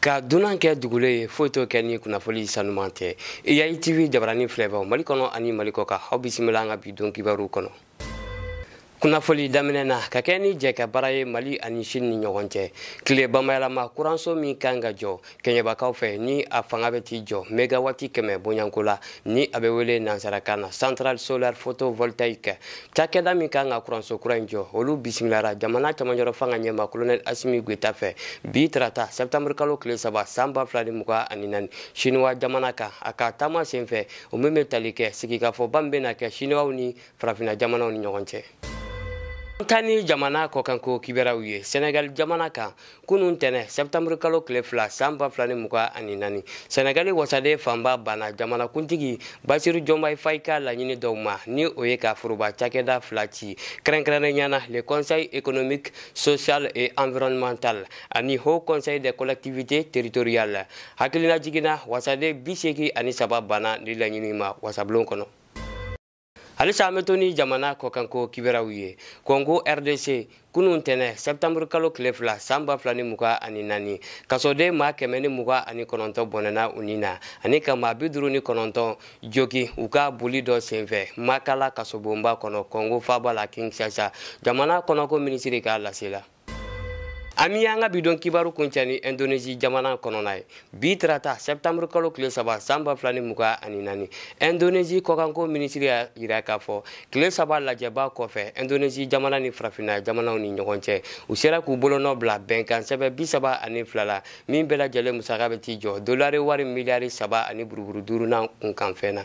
ka dunan kɛ dugulen ye foyi t'o kɛ ni kunnafoli sanuman tɛ eyayi tv jabarani filɛbaaw mali kɔnɔ ani mali kɔ kan aw bisimila an ka bi don kibaru kɔnɔ kunnafoli daminɛ na ka kɛɲɛ ni jɛkabaara ye mali ani sini ni ɲɔgɔn cɛ tile bamayɛlɛma kuranso min kan ka jɔ kɛɲɛbakaw fɛ ni a fanga bɛ t'i jɔ megawati kɛmɛ bonyako la ni a bɛ wele nansarakan na centrale solaire photovoltaïque cakɛda min kan ka kuranso kura in jɔ olu bisimilara jamana camancɛrɔ fanga ɲɛmaa kolonɛl asimi goyita fɛ bi tarata sɛptanburu kalo tile saba san ba fila ni mugan ani naani siniwa jamana kan a ka taama sen fɛ o min bɛ tali kɛ sigikafɔba min bɛna kɛ siniwaw ni farafina jamanaw ni ɲɔgɔn cɛ an taa ni jamana kɔkanko kibaruyaw ye senegal jamana kan kunun tɛnɛn sɛptanburu kalo tile fila san ba fila ni mugan ani naani sɛnɛgali wasaden fanba banna jamanakuntigi basiru jɔmayi fayi ka laɲini dɔw ma ni o ye ka foroba cakɛda fila ci kɛrɛnkɛrɛnnenya na le conseil économique social et environnemental ani haut conseil des collectivités territoriales hakilinajigin na wasaden bi seegin ani saba banna nin laɲini ma wasabulon kɔnɔ halisa an bɛ to ni jamana kɔkanko kibaruyaw ye kɔngo rdc kunun tɛnɛn sɛptanburu kalo tile fila san ba fila ni mugan ani naani kasoden maa kɛmɛ ni mugan ani kɔnɔntɔn bɔnɛna u ni na ani ka maa bi duru ni kɔnɔntɔn jogin u ka boli dɔ senfɛ makala kasobonba kɔnɔ kɔngo faaba la kinshasa jamana kɔnɔko minisiri ka lase la an bɛ an ka bi don kibaru kuncɛ ni indonesie jamana kɔnɔna ye bi tarata sɛptanburu kalo tile saba san ba fila ni mugan ani naani indonesie kɔkanko minisiri y'a jira k'a fɔ tile saba lajɛba kɔfɛ indonesie jamana ni farafinna jamanaw ni ɲɔgɔn cɛ u sera k'u bolonɔn bila bɛnkan sɛbɛn bi saba ani fila la min bɛɛ lajɛlen musaka bɛ t'i jɔ dolari wari miliyari saba ani buruburu duuru n'a kunkanfɛn na